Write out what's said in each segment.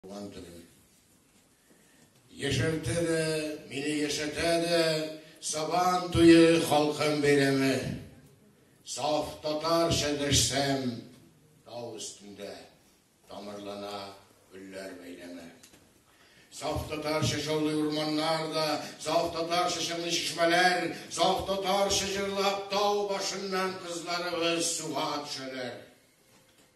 Туган телем. Яшәртә дә, мине яшәтә дә, Сабан туе халкым бәйрәме. Саф татарча дәшсәм, тау өстендә тамырлана гөлләр бәйләме. Саф татарча шаулый урманнар да, саф татарча чыңлый чишмәләр, саф татарча җырлап тау башыннан кызларыбыз суга төшәләр.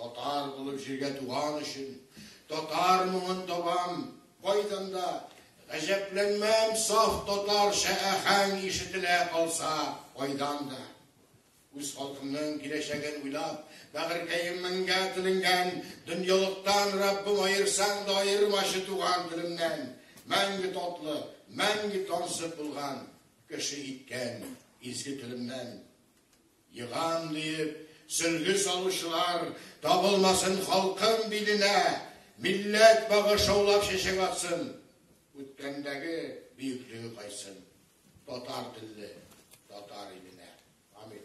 Татар булып җиргә туган өчен, татар моңын табам, кайдан да, гаҗәпләнмәм, саф татарча әхәң ишетелә калса, кайдан да. Үз халкымның киләчәген уйлап, бәгырькәем меңгә теленгән, дөньялыктан Раббым аерсаң да аермачы туган телемнән, мәңге татлы, мәңге тансык булган, кеше иткән изге телемнән. Егам диеп, сөлге салучылар табылмасын халкым биленә, Милләт багы шаулап чәчәк атсын, Үткәндәге бөеклеге кайсын, Татар телле, татар иленә. Амин.